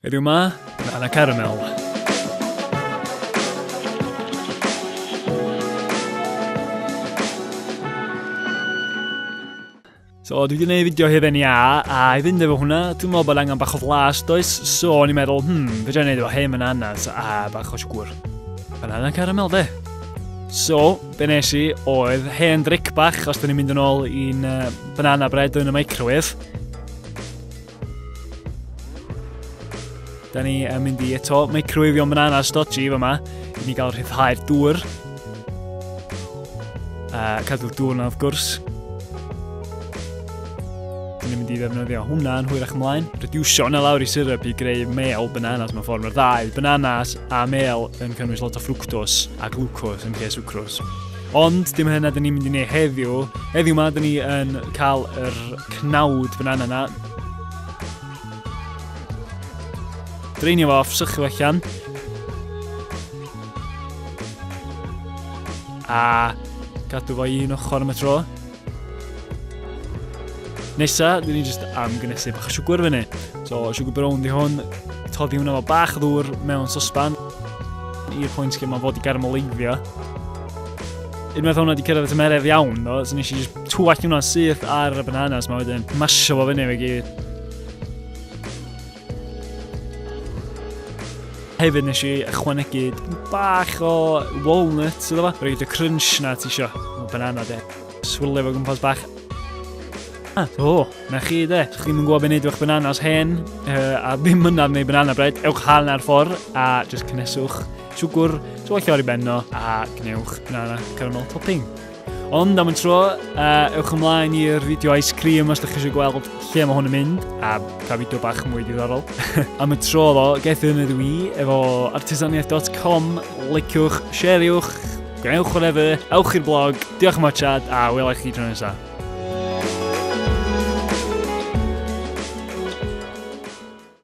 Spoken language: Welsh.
Heddiw 'ma yn Anna Caramel. So, dwi wedi gwneud fideo hefyd ni a, a i fynd efo hwnna, dwi'n meddwl bod angen bach o flas, does? So, o'n i'n meddwl, hmm, fe dwi'n gwneud efo hyn yn annas, a bach o siwgwr. Banana caramel, de. So, be nes i oedd hen dric bach, os dyn ni'n mynd yn ôl i'n uh, banana bread yn y microwave. Da ni yn mynd i eto microwave o'n banana stodgy fe yma. I ni gael rhyddhau'r dŵr. A cadw'r dŵr yna wrth gwrs. Da ni'n mynd i ddefnyddio hwnna yn hwyrach ymlaen. Rediwsio hwnna lawr i syrup i greu mel bananas mewn ffordd. Mae'r ddau, bananas a mel, yn cynnwys lot o ffrwctos a glwcos yn lle swcros. Ond dim hynna dyn ni'n mynd i wneud heddiw. Heddiw yma, dyn ni yn cael yr cnawd banana yna. Dreinio fo off, sychu fo allan. A gadw fo un ochr am y tro. Nesa, dyn ni jyst am gynesu bach o siwgr fyny. So, siwgr brown di hwn. Toddi hwnna fo bach o ddŵr mewn sosban. I'r pwynt lle mae fod i garmoleiddio. Unwaith hwnna di cyrraedd y tymeredd iawn, no, so nes i jyst twall hwnna syth ar y bananas ma wedyn. Masio fo fyny fe gyd. Hefyd nes i ychwanegu bach o walnut iddo fo. Rhaid y crunch na ti isio. Banana de. Swirlio fo gwmpas bach. Ah, o, na chi de. Ydych chi'n gwybod beth wneud o'ch bananas hen, uh, a ddim mynaf neu banana bread, ewch hal ar ffordd a just cynneswch siwgwr, twallio ar ei benno, a gwnewch banana caramel topping. Ond am y tro, uh, ewch ymlaen i'r fideo ice cream os ydych chi eisiau gweld lle mae hwn yn mynd, a pa fideo bach mwy diddorol. am y tro ddo, gaeth yn ydw i efo artisaniaeth.com, liciwch, shareiwch, gwnewch whatever, ewch i'r blog, diolch am watchad, a welai chi tro nesaf.